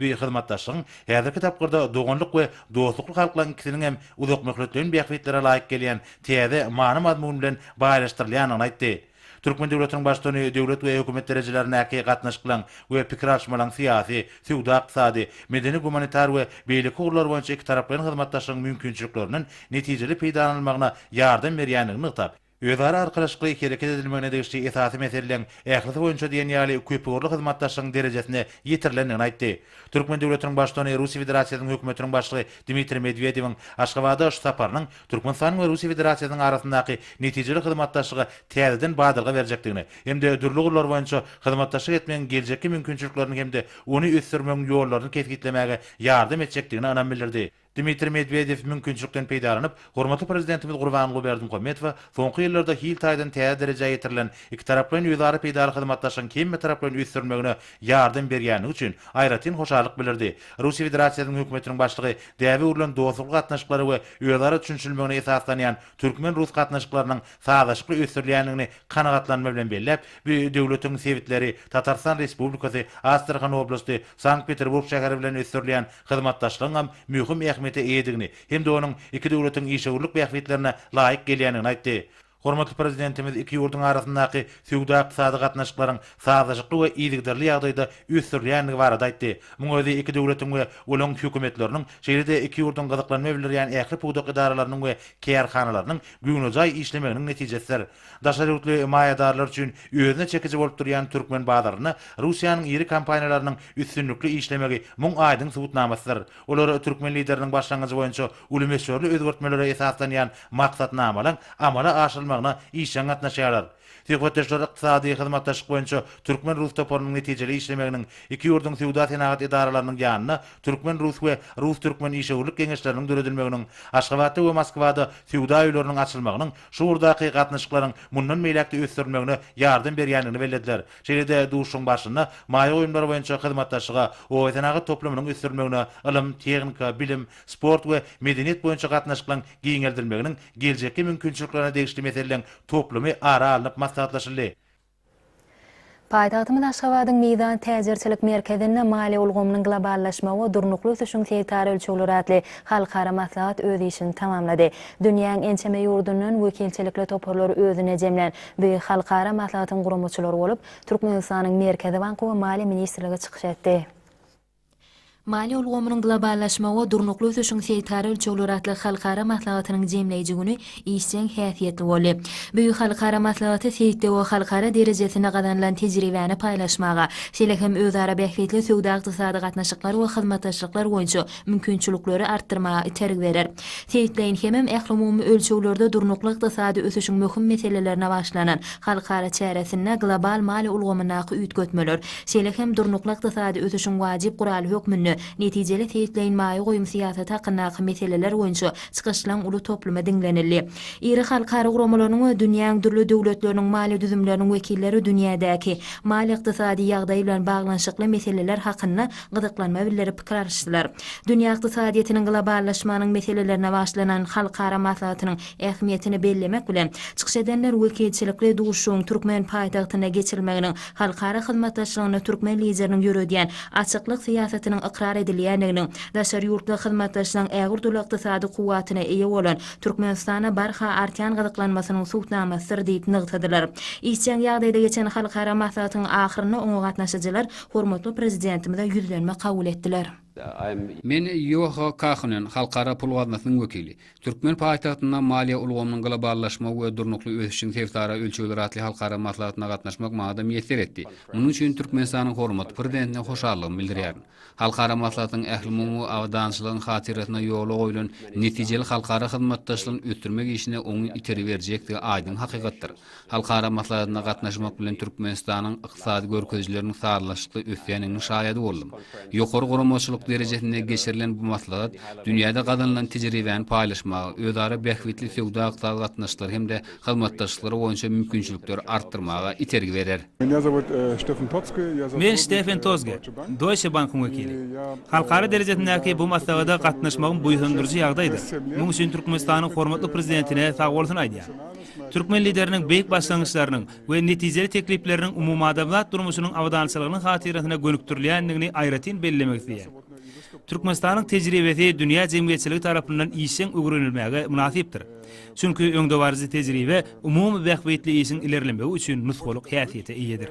Bu hyzmatdaşlygyň häzirki tapgyrda doganlyk we dostlukly halklaryň ikisiniň hem uzakmöhletleýin bähbitlere laýyk gelýän täze many-mazmun bilen baýlaşdyrylýandygyny aýtdy. Türkmen döwletiniň Baştutany döwlet we hökümet derejelerindäki gatnaşyklaryň we pikir alyşmalaryň syýasy, söwda-ykdysady, medeni-gumanitar we beýleki ugurlar boýunça ikitaraplaýyn hyzmatdaşlygyň mümkinçiliklerinden netijeli peýdalanylmagyna ýardam berýändigini nygtap, Özara arkalaşykly hereket edilmegine degişli esasy meseleleň ählisi boýunça diýen ýaly köpugurly hyzmatdaşlygyň derejesine ýetirilendigini aýtdy. Türkmen döwletiniň Baştutany Russiýa Federasiýasynyň Hökümetiniň Başlygy Dmitriý Medwedewiň Aşgabada şu saparynyň Türkmenistanyň we Russiýa Federasiýasynyň arasyndaky netijeli hyzmatdaşlyga täzeden badalga berjekdigini hem-de dürli ugurlar boýunça hyzmatdaşlyk etmegiň geljekki mümkinçiliklerini hem-de ony ösdürmegiň ýollaryny kesgitlemäge ýardam etjekdigine ynam bildirdi. Dmitriý Medwedew mümkinçilikden peýdalanyp, hormatly Prezidentimiz Gurbanguly Berdimuhamedowa soňky ýyllarda hil taýdan täze derejä ýetirilen ikitaraplaýyn özara peýdaly hyzmatdaşlygyň hemmetaraplaýyn ösdürilmegine ýardam berýändigi üçin aýratyn hoşallyk bildirdi. Russiýa Federasiýasynyň Hökümetiniň Başlygy däbe öwrülen dostlukly gatnaşyklara we özara düşünişilmegine esaslanýan türkmen-rus gatnaşyklarynyň sazlaşykly ösdürilýändigini kanagatlanma bilen belläp, bu döwletiň sebitleri, Tatarystan Respublikasy, Astrahan oblasty, Sankt-Peterburg şäheri bilen ösdürilýän hyzmatdaşlygyňam möhüm ähmiýete eýedigini hem-de onuň iki döwletiň işewürlik bähbitlerine laýyk gelýändigini aýtdy. Hormatly Prezidentimiz iki ýurduň arasyndaky söwda-ykdysady gatnaşyklaryň sazlaşykly we yzygiderli ýagdaýda ösdürilýändigi barada aýtdy. Muň özi iki döwletiň we olaryň Hökümetleriniň, şeýle-de iki ýurduň gyzyklanma bildirýän ähli pudak edaralarynyň we kärhanalarynyň göwnejaý işlemeginiň netijesidir. Daşary ýurtly maýadarlar üçin özüne çekiji bolup durýan türkmen bazarynda Russiýanyň iri kompaniýalarynyň üstünlikli işlemegi muň aýdyň subutnamasydyr. Olar türkmen Lideriniň başlangyjy boýunça uly möçberli özgertmelere esaslanýan maksatnamalaň amala aşyrylmagyna işjeň gatnaşýarlar. Söhbetdeşler ykdysady hyzmatdaşlyk boýunça türkmen-rus toparynyň netijeli işlemeginiň, iki ýurduň söwda-senagat edaralarynyň ýanyna türkmen-rus we rus-türkmen işewürlik geňeşleriniň döredilmeginiň, Aşgabatda we Moskwada söwda öýleriniň açylmagynyň şu ugurdaky gatnaşyklaryň mundan beýläk-de ösdürilmegine ýardam berýändigini bellediler. Şeýle-de duşuşygyň barşynda maýa goýumlary boýunça hyzmatdaşlyga, obasenagat toplumynyň ösdürilmegine, ylym, tehnika, bilim, sport we medeniýet boýunça gatnaşyklaryň giňeldilmeginiň geljekki mümkinçiliklerine degişli meseleleň toplumy ara alnyp maslahatlaşyldy. Paýtagtymyz Aşgabadyň Mizan täjirçilik merkezinde Maliýe ulgamynyň globallaşmagy we durnukly ösüşiň sebitara ölçegleri atly halkara maslahat öz işini tamamlady. Dünýäň ençeme ýurdundan wekilçilikli toparlary özüne jemlän bu halkara maslahatyň guramaçylary bolup, Türkmenistanyň Merkezi banky we Maliýe ministrligi çykyş etdi. Maliýe ulgamynyň globallaşmagy we durnukly ösüşiň seýtara ölçegleri atly halkara maslahatynyň jemleýji güni işjeň häsiýetli boldy. Bu halkara maslahaty seýtde we halkara derejesinde gazanylan tejribäni paýlaşmaga, şeýle hem özara bähbitli söwda-ykdysady gatnaşyklar we hyzmatdaşlyklar boýunça mümkinçilikleri artdyrmaga itergi berer. Seýitleýin hemem ählumumy ölçeglerde durnukly ykdysady ösüşiň möhüm meselelerine başlanan halkara çäresinde global maliýe ulgamyndaky üýtgetmeler, şeýle hem durnukly ykdysady ösüşiň wajyp guraly hökmünde netijeli seýitleýin maýa goýum syýasaty hakyndaky meseleler boýunça çykyşlaň uly toplumy diňlenildi. Iri halkara guramalarynyň we dünýäň dürli döwletleriniň maliýe düzümleriniň wekilleri dünýädäki maliýe-ykdysady ýagdaý bilen baglanyşykly meseleler hakynda gyzyklanma bildirip pikir alyşdylar. Dünýä ykdysadyýetiniň globallaşmanyň meselelerine başlanan halkara maslahatynyň ähmiýetini bellemek bilen, çykyş edenler wekilçilikli duşuşygyň türkmen paýtagtynda geçirilmeginiň halkara hyzmatdaşlygynda türkmen Lideriniň ýöredýän açyklyk syýasatynyň ykrar edilýändiginiň daşary ýurtly hyzmatdaşlaryň ägirt-uly ykdysady kuwwatyna eýe bolan Türkmenistana barha artýan gyzyklanmasynyň subutnamasydyr diýip nygtadylar. Işjeň ýagdaýda geçen halkara maslahatyň ahyrynda oňa gatnaşyjylar Hormatly Prezidentimize ýüzlenme kabul etdiler. Men Ýoha Kahunen, Halkara pul gaznasynyň wekili. Türkmen paýtagtynda Maliýe ulgamynyň globallaşmagy we durnukly ösüşiň sebitara ölçegleri atly halkara maslahatyna gatnaşmak maňa-da miýesser etdi. Munuň üçin Türkmenistanyň hormatly Prezidentine hoşallygymy bildirýärin. Halkara maslahatyň ählumumy abadançylygyň hatyrasyna ýola goýlan netijeli halkara hyzmatdaşlygyny ösdürmek işine oňyn itergi berjekdigi aýdyň hakykatdyr. Halkara maslahatyna gatnaşmak bilen Türkmenistanyň ykdysady görkezijileriniň sazlaşykly ösýändiginiň şaýady boldum. Ýokary guramaçylyk derejesinde geçirilen bu maslahat dünýäde gazanylan tejribäni paýlaşmaga, özara bähbitli söwda-ykdysady gatnaşyklary hem-de hyzmatdaşlyklary boýunça mümkinçilikleri artdyrmaga itergi berer. Men Ştefen Tozge, Deutsche Bank-yň wekili. Halkara derejesindäki bu maslahada gatnaşmagym buýsandyryjy ýagdaýdyr. Muň üçin Türkmenistanyň hormatly Prezidentine sagbolsun aýdýaryn. Türkmen Lideriniň beýik başlangyçlarynyň we netijeli teklipleriniň umumadamzat durmuşynyň abadançylygynyň hatyrasyna gönükdirilýändigini aýratyn bellemek isleýän. Türkmenistanyň tejribesi dünýä jemgyýetçiligi tarapyndan işjeň öwrenilmäge mynasypdyr. Çünki öňdebaryjy tejribe umumy bähbitli işiň ilerlemegi üçin nusgalyk häsiýete eýedir.